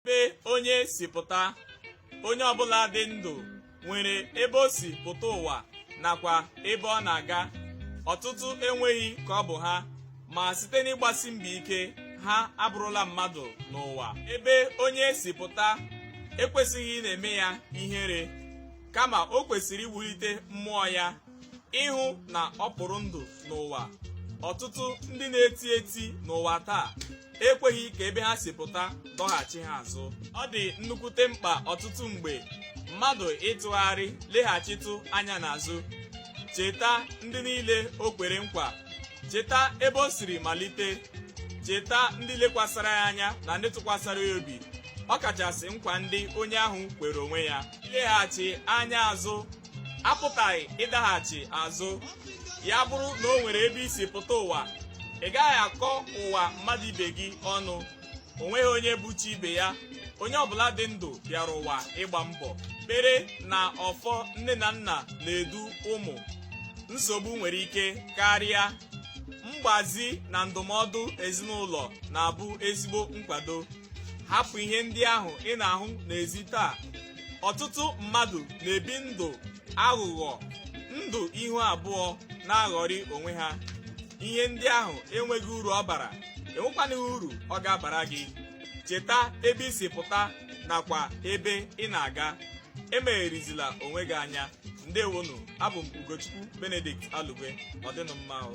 ebe onye si pụta onye ọbụla dị ndụ nwere ebe o si pụta ụwa nakwa ebe ọ na-aga ọtụtụ enweghị ka ọ bụ ha ma site n'ịgbasi mbọ ike ha abụrụla mmadụ n'ụwa ebe onye si pụta ekwesịghị ịna-eme ya ihere kama o kwesịrị iwulite mmụọ ya ịhụ na ọ kpụrụ ndụ n'ụwa ọtụtụ ndị na-eti eti n'ụwa taa ekweghị ka ebe ha si pụta dọghachi ha azụ ọ dị nnukwute mkpa ọtụtụ mgbe mmadụ ịtụgharị leghachitụ anya n'azụ cheta ndị niile o kwere nkwa cheta ebe o siri malite cheta ndị lekwasara ya anya na ndị tụkwasara ya obi ọ kachasị nkwa ndị onye ahụ kwere onwe ya ileghachi anya azụ apụtaghị ịdaghachi azụ ya bụrụ na o nwere ebe i si pụta ụwa ị gaghị akọ ụwa mmadụ ibe gị ọnụ o nweghị onye bụ chi ibe ya onye ọbụla dị ndụ bịara ụwa ịgba mbọ kwere na ọfọ nne na nna na-edu ụmụ nsogbu nwere ike karịa mgbazi na ndụmọdụ ezinụlọ na-abụ ezigbo nkwado hapụ ihe ndị ahụ ị na-ahụ n'ezi taa ọtụtụ mmadụ na-ebi ndụ aghụghọ ndụ ihu abụọ na-aghọrị onwe ha ihe ndị ahụ enweghị uru ọ bara enwekwanịghị uru ọ ga-abara gị cheta ebe i si pụta nakwa ebe ị na-aga emegherizila onwe gị anya ndewonu abụ m ugochukwu benedict alugwe ọ dịnụ mma o